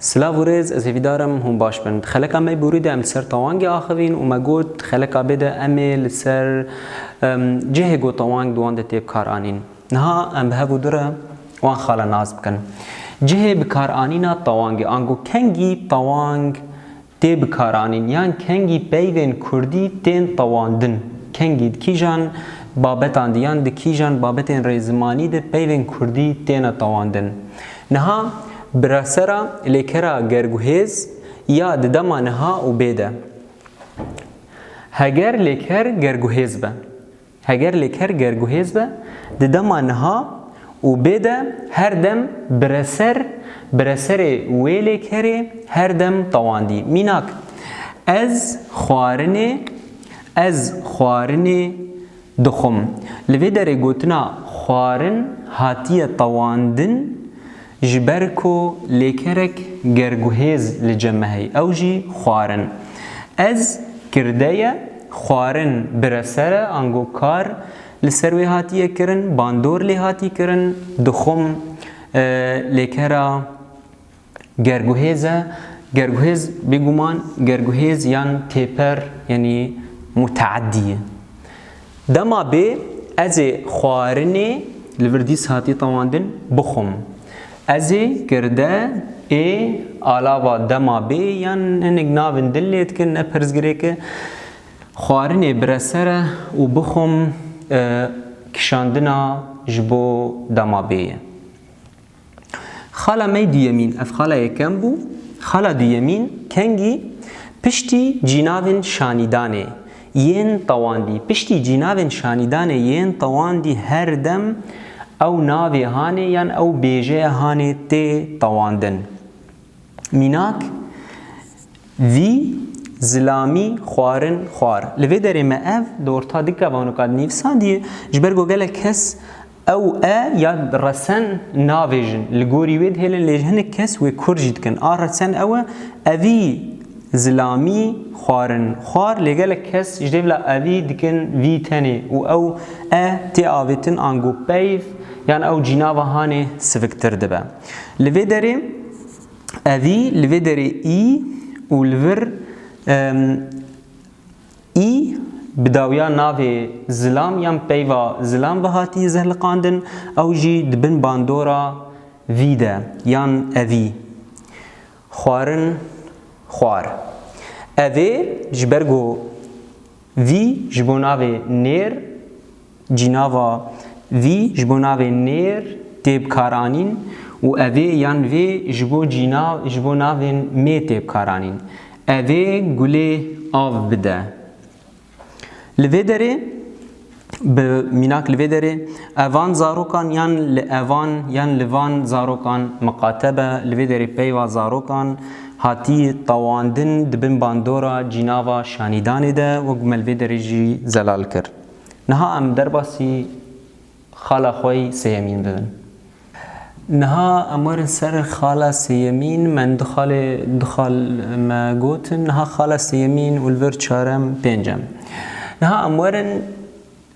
Silav û rêz, ez hêvîdar im hûn baş bin. Di xeleka me bûrî de em li ser tawangê axivîn û me got di xeleka bê de em ê li ser cihê ku tawang bi wan de tê bikaranîn. Niha em bi hev û du re wan xala nas bikin. Cihê bikaranîna tawangê ango kengî tawang tê bikaranîn yan kengî peyvên kurdî tên tewandin, kengî di kîjan babetan de yan di kîjan babetên rêzimanî de peyvên kurdî têne tewandin. Niha bi re sera lêkera gerguhêz ya di dema niha û bê de. Heger lêker gerguhêz be. Heger lê ker ger guhêz be, di dema niha û bê de her dem bireser, bireserê wê lê kerê her dem tewandî. Mînak, Ez xwarinê, ez xwarinê dixwim. Li vê derê gotina xwarin hatiye tewandin Ji ber ku lêkerek ger guhêz li cem me heye ew jî xwarin. Ez kirdeye xwarin bire ser e ango kar li ser wê hatiye kirin, bandor lê hatî kirin, dixwim lêkera ger guhêz e, ger guhêz bêguman ger guhêz yan têper yanî muteedî ye. Dema bê ez ê xwarinê li vir dîs hatî tewandin bixwim. Ez ê girde ê alava dema bê yan hinek navên din lê dikin ne pirsgirêke xwarinê bire ser e û bixwim kişandina ji bo dema bê ye. Xala me duyemîn ev xala yekem bû, xala duyemîn kengî piştî cînavên şanîdanê yên tewandî. Piştî cînavên şanîdanê yên tewandî her dem ew navê hanê yan ew bêjeya hanê tê tewandin. Mînak, vî, zilamî, xwarin, xwar. Li vê derê me ev di orta dika vanoka dinivîsandiye ji ber ku gelek kes Ew e ya resen navê jin li gorî wê dihêlin lê hinek kes wê kurd jî dikin. A resen ew e evî zilamî xwarin xwar lê gelek kes ji dê bila evî dikin vî tenê û ew e tê avêtin ango peyv yan ew cînava hanê siviktir dibe. Li vê derê evî li vê derê î û li vir Î bi dawiya navê Zilam yan peyva Zilam ve hatiye zehliqandin, ew jî di bin bandora vî de yan evî, xwarin, xwar. Evê ji ber ku vî ji bo navê nêr Cînava vî ji bo navê nêr tê bikaranîn û evê yan vê ji bo cîna ji bo navên mê tê bikaranîn. Evê gulê av bide. Li vê derê bi mînak li vê derê evan zarokan yan li evan yan li van zarokan miqate be. Li vê derê peyva zarokan hatî tewandin di bin bandora cînava şanîdanê de wek ku me li vê derê jî zelal kir. Niha em derbasî xala xwe yî sêyemîn bibin. Niha em werin ser xala sêyemîn, me du xalê du xal me gotin, niha xala sêyemîn û li vir çarem, pêncem. Niha em werin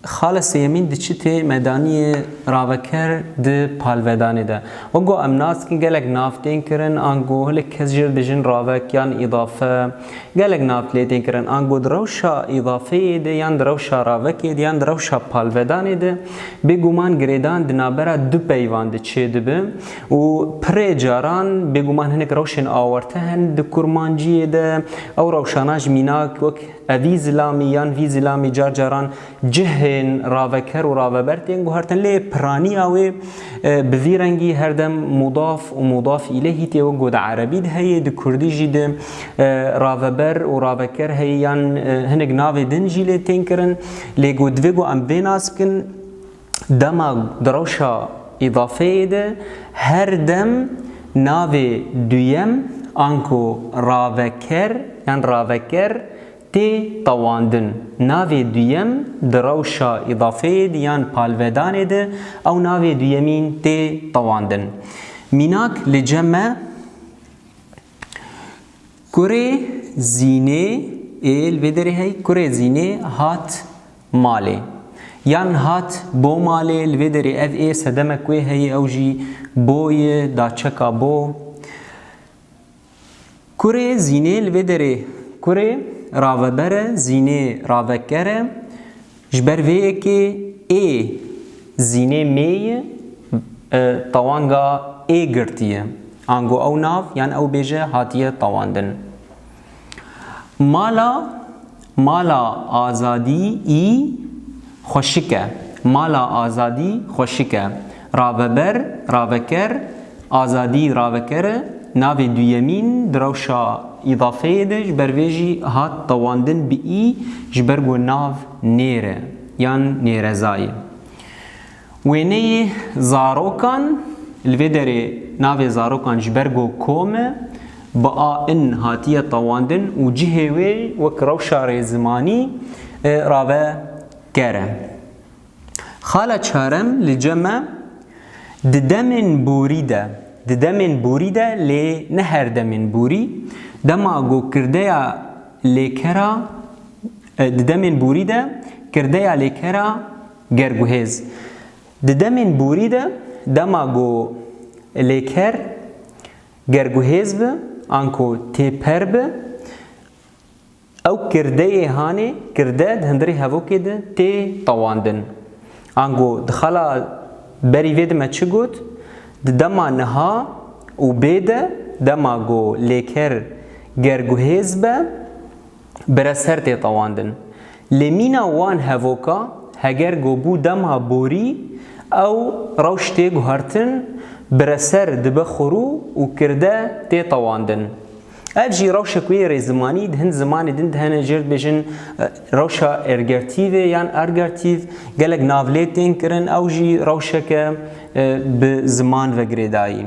xala sêyemîn di çitê me danîye raveker di palvedanê de. Wek ku em nas dikin gelek nav tên kirin ango hinek kes jê re dijin ravek yan îdafe, Gelek nav lê tên kirin, ango di rewşa îdafeyê de yan di rewşa ravekê de yan di rewşa palvedanê de, bêguman girêdan di navbera du peyvan de çêdibe û pirê caran bêguman hinek rewşên awarte hene di kurmanciyê de, ew rewşana ji mînak wek evî zilamî yan vî zilamî car caran Cihên raveker û raveber tên guhertin lê piraniya wê bi vî rengî her dem mudaf û mudaf îleyhî tê wek got erebî de heye di kurdî jî de raveber û raveker heye yan hinek navê din jî lê tên kirin lê got divê ku em vê nas bikin dema di rewşa îdafeyê de her dem navê duyem anku raveker yan raveker Tê tewandin, navê duyem di rewşa îdafeyê de yan palvedanê de ew navê duyemîn tê tewandin. Mînak li cem me Kurê Zînê ê li vê derê heye Kurê Zînê hat malê yan hat bo malê li vê derê ev ê sedemek wê heye ew jî bo ye da çeka bo. Kurê zînê li vê derê kurê raveber e, zînê raveker e. Ji ber vê yekê ê zînê mêyî tewanga ê girtiye. Ango ew nav yan ew bêje hatiye tewandin. Mala. Mala Azadî î xweşik e. Mala Azadî xweşik e. Raveber, raveker, Azadî raveker e. Navê duyemîn di rewşa îdafeyê de ji ber vê jî hat dewandin bi î ji ber ku nav nêr e yan nêrezayê. Wêneyê zarokan, li vê derê navê zarokan ji ber go kom e, bi a in hatiye tewandin û cihê wê wek rewşa rêzimanî rave ker e. Xala çarem li ce me di demên borî de, di demên borî de lê ne her demên borî, dema go kirdeya lêkera, di demên borî de kirdeya lêkera, Ger guhêz Di demên borî de dema ku lêker ger guhêz bi an ku têper bi ew kirdeyê hanê kirde di hundirê hevokê de tê tewandin. An ku di xala berî vê de me çi got? Di dema niha û bê de dema ku lêker ger guhêz be, bi re ser tê tewandin. Lê mîna wan hevoka heger ku bû dema borî ew rewş tê guhertin bi re ser dibe xurû û kirde tê tewandin. Ev jî rewşek wê rê zimanî di hin zimanê din dihene cêr dibêjin rewşa ergertîvê yan argertîv gelek navlê tên kirin ew jî rewşeke bi ziman ve girêdayî.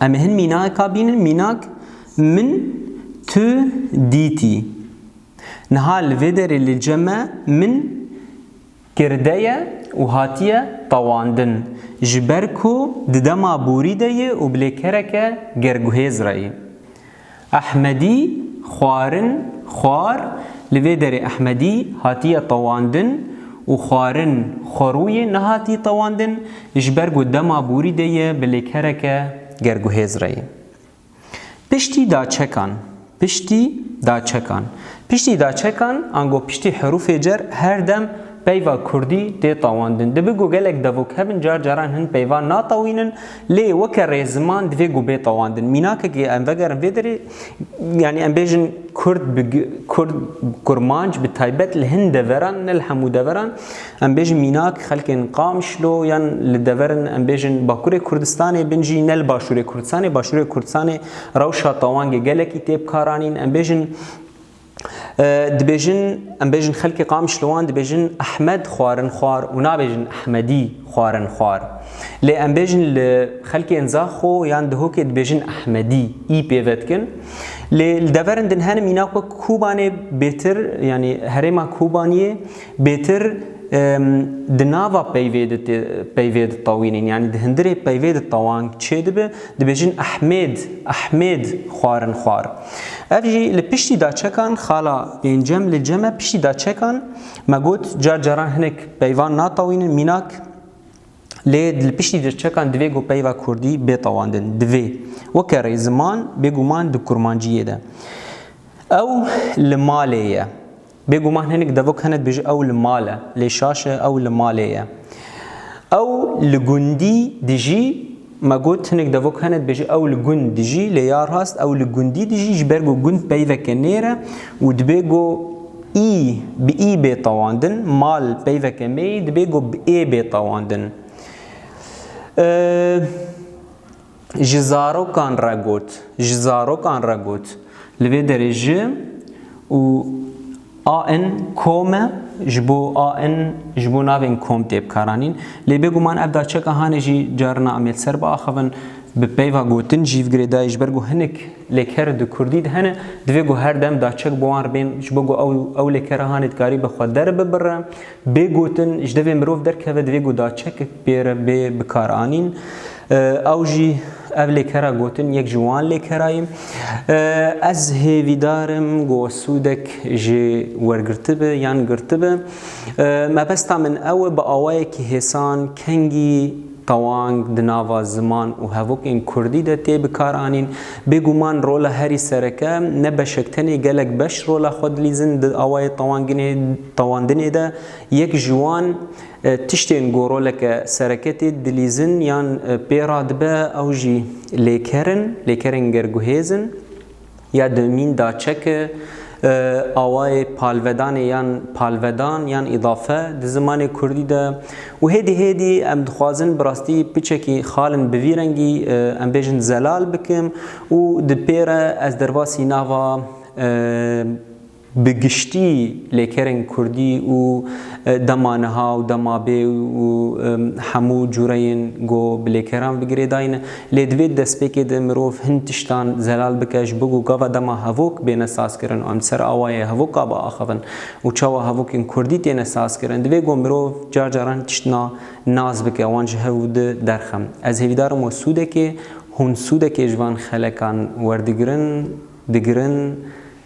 Em ê hin mînaka bînin mînak Min tu dîtî. Niha li vê derê li ce me min girde ye û hatiye tewandin. Ji ber ku di dema borî de yê û bilêkereke gerguhêz re yê. Ehmedî xwarin xwar Li vê derê Ehmedî hatiye tewandin û xwarin xwerûyê nehatî tewandin ji ber ku dema borî de yê bilêkereke gerguhêz re yê. Piştî daçekan Piştî daçekan Piştî daçekan ango piştî herûfê cer her dem peyva kurdî tê tawandin. Dibi ku gelek devok hebin car caran hin peyva natawînin lê weke rê ziman divê ku bê tawandin. Mînakekê em vegerin vê derê yanî em bêjin kurd bi kurd kurmanc bi taybet li hin deveran ne li hemû deveran Em bêjin mînak xelkên Qamişlo yan li dever in, em bêjin Bakurê Kurdistanê bin jî ne li Başûrê Kurdistanê, Başûrê Kurdistanê rewşa tawangê gelekî tê bikaranîn, em bêjin dibêjin em bêjin xelkê Qamişlowan dibêjin Ehmed xwarin xwar û nabêjin Ehmedî xwarin xwar. Lê em bêjin li xelkên Zaxo yan Dihokê dibêjin Ehmedî î pêve dikin. Lê li dever in din hene mînak wek Kobanê bêtir yanî herêma Kobaniyê Bêtir di nava peyvê de tewînên yanî di hindirê peyvê de tewang çêdibe, dibêjin Ehmêd, Ehmêd xwarin xwar. Ev jî li piştî da çekan, xala pêncem li cem e piştî da çekan, me got car caran hinek peyvan natewînin mînak lê li piştî de çekan divê ku peyva kurdî bê tewandin. Divê. Weke rê ziman bêguman di kurmanciyê de. Ew li malê ye. Bêguman hinek devok hene dibêje ew li mal e, lê şaş e ew li malê ye. Ew li gundî dijî, me got hinek devok hene dibêje ew li gund dijî, lê ya rast ew li gundî dijî ji ber ku gund peyveke nêr e û dibê ku î bi î bê tewandin, mal peyveke mêyî dibê ku bi ê bê tewandin. Ji zarokan re got. Ji zarokan re got. Li vê derê ji û a in kom e, ji bo a in ji bo navên kom tê bikaranîn. Lê bêguman ev da çeka hanê jî carina Amêd ser biaxivin. Bi peyva gotin jî vgirê dayê ji ber ku hinek lêker di kurdî de hene divê ku her dem daçek bi wan re bên ji bo ku ew ew lêkera hanê dikarî bi xwe derbibire. Bê gotin, ji devê mirov derkeve divê ku daçekek pê re bê bikaranîn. Ew jî ev lêkera gotin yek ji wan lêkera ye. Ez hêvîdar im ku sûdek jê wergirtibe yan girtibe. Mebesta min ew e bi awayekî hêsan kengî tewang di nava ziman û hevokên kurdî de tê bikaranîn. Bêguman rola herî sereke ne beşek tenê gelek beş rola xwe dilîzin di awayê tewanginê. Tewandinê de yek ji wan tiştên ku roleke sereketê dilîzin yan pê re dibe ew jî lêker in, lêkerên gerguhêz in. Ya dewmîn da çeke awayê palvedanê yan palvedan yan îdafe di zimanê kurdî de û hêdî hêdî em dixwazin bi rastî piçekî xalin bi vî rengî em bêjin zelal bikim û di pê re ez derbasî nava Bi giştî lêkerên kurdî û dema niha û dema bê û hemû cureyên ku bi lêkeran ve girêdayî ne. Lê di vê destpêkê de mirov hin tiştan zelal bike ji bo ku gava dema hevok bêne sazkirin û em di ser awayê hevoka biaxivin û çawa hevokên kurdî têne sazkirin. Divê ku mirov car caran tiştna nas bike wan ji hev û di derxe. Ez hêvîdar im we sûdekê hûn sûdekê ji van xelekan werdigirin, digirin,